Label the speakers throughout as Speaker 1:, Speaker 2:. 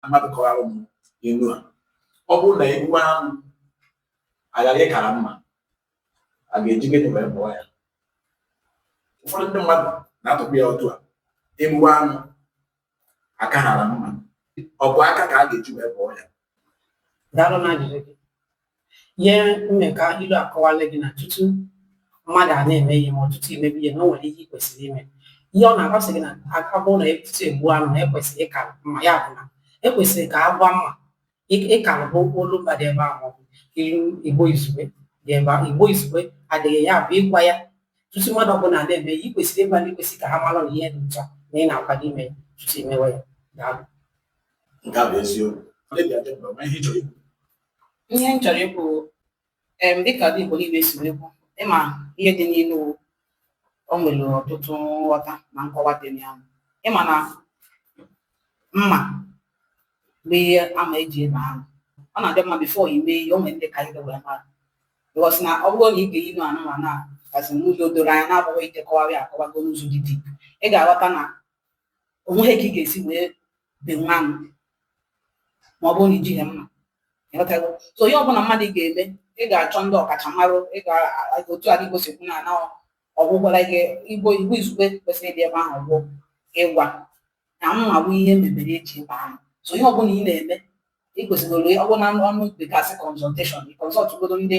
Speaker 1: mmadụ kọwara m ilu a ọ bụrụ na egbuwe anụ aghara ịkara mma a ga-eji gịnị wee bọọ ya ụfọdụ ndị mmadụ na-atụkwa ya otu a egbuwe anụ akahara mma ọ bụ aka ka a ga-eji wee bọọ ya daalụ na ajụjụ gị ihe mmekọ ilu a kọwara bụ na tutu mmadụ a na-eme ihe ma ọ bụ tutu imebe ihe na o nwere ihe ị kwesịrị ime ihe ọ na-agwa sị gị na aka bụrụ na tutu egbuo anụ na ekwesịrị ịkara mma ya bụ na ekwesịrị ka agwa mma ịkara bụ olu mba dị ebe ahụ ilu igbo izugbe dị ebe ahụ igbo izugbe dịrị ya bụ ịgwa ya tutu mmadụ ọbụla na-eme ihe ị kwesịrị ịgwa ndị kwesịrị ka ha mara na ihe dị otu a ị na-akwado ime ya tutu imewe ya daalụ nke a bụ eziokwu Ọ dịghị adị mma, ma ihe ị chọrọ ikwu. ihe m chọrọ ikwu em dịka ndị Igbo niile si wee kwu ịma ihe dị n'ilu o nwere ọtụtụ nghọta na nkọwa dị na ya ịma na mma bụ ihe ama eji ebe anụ ọ na-adị mma before i mee ihe o nwere ndị ka ido wee mara because na ọ bụrụ na ị ga-eyi nụ anụmanụ a gazi n'ụzọ doro anya na-abụghị ịdekọwarị akọwago n'ụzọ dị deep ị ga-aghọta na onweghị ka ị ga-esi wee benwo anụ ma ọ bụrụ na ijighị mma ịghọtago so ihe ọbụla mmadụ ga-eme ị ga-achọ ndị ọkachamara ị ga otu a gosipụ na na ọgwụgwara gị igbo igbo izugbe kwesịrị ịdị ebe ahụ bụ ịgwa na mma bụ ihe mebere eji egbu anụ so ihe ọbụla ị na-eme ị kwesịrị ọ bụrụ na ọnụ bekasị consultation consultụgodo ndị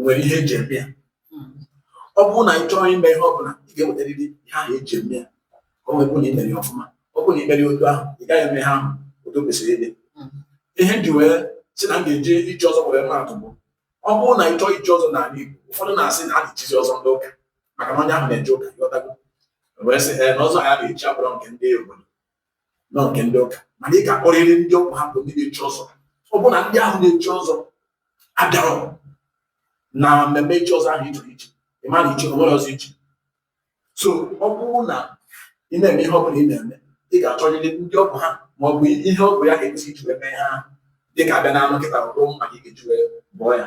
Speaker 1: nwere ihe eji eme ya ọ bụrụ na ị chọọ ime ihe ọ bụla ị ga-enwetarịrị ihe ahụ eji eme ya ka ọ wee bụrụ na ị mere ya ọfụma ọ bụrụ na ị mere ya otu ahụ ị gaghị eme ihe ahụ otu o kwesịrị ịdị ihe m ji wee si na m ga-eji ichi ọzọ were maatụ bụ ọ bụrụ na ị chọọ ichi ọzọ n'ala Igbo ụfọdụ na-asị na a na-echizi ọzọ ndị ụka maka na onye ahụ na-eje ụka ghọtago wee sị ee na ọzọ ha na-echi abụrọ nke ndị obodo na nke ndị ụka mana ị ga-akpọrịrị ndị ọ bụ ha bụ ndị na-echi ọzọ ọ bụrụ na ndị ahụ na-echi ọzọ abịarọ na mmemme ichi ọzọ ahụ ịchọrọ ichi ị ma na ichi onwerọ ọzọ ichi so ọ bụrụ na ị na-eme ihe ọ bụla ị na-eme ị ga-achọrịrị ndị ọ bụ ha ma ọ bụ ihe ọ bụ ya ka ekwesị iji wee mee ha dị ka abịa n'anụ kịta ọ bụrụ mma ị ga-eji wee bọọ ya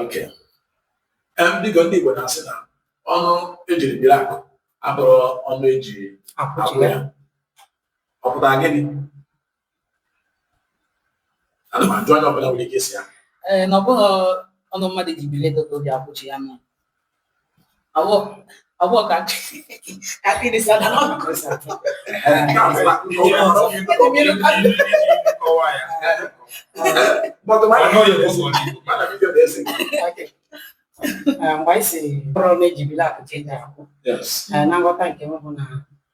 Speaker 1: Okay. Em, biko ndị Igbo na-asị na ọnụ ejiri biri akụ abụrọ ọnụ eji akwụ akwụchi ya ọ pụtara gịnị ana m ajụ onye ọbụla nwere ike ịza ya ee na ọ bụghị ọnụ mmadụ ji biri ego ka o ji akwụchi ya mma mgbe anyị si abụrọ ọnụ eji biri akụ ka eji akwụ na nghọta nke m bụ na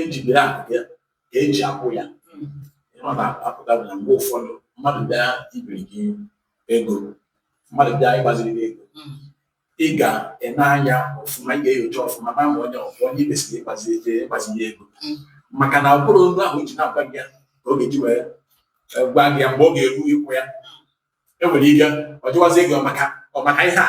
Speaker 1: eji biri abụghị ya ka eji akwụ ya ọ na-apụta bụ na mgbe ụfọdụ mmadụ bịa ibiri gị ego mmadụ bịa ịgbaziri gị ego ị ga-ene anya ọfụma ị ga-enyocha ọfụma ma ma onye ọfụma onye i kwesịrị ịgbazi eje ịgbazi ya ego maka na ụkpụrụ olu ahụ eji na-agwa gị ya ka ọ ga-eji wee eh, gwa gị ya mgbe ọ ga-eru ịkwụ ya enwere ike ọ jụwazie gị ọ maka ọ maka ihe a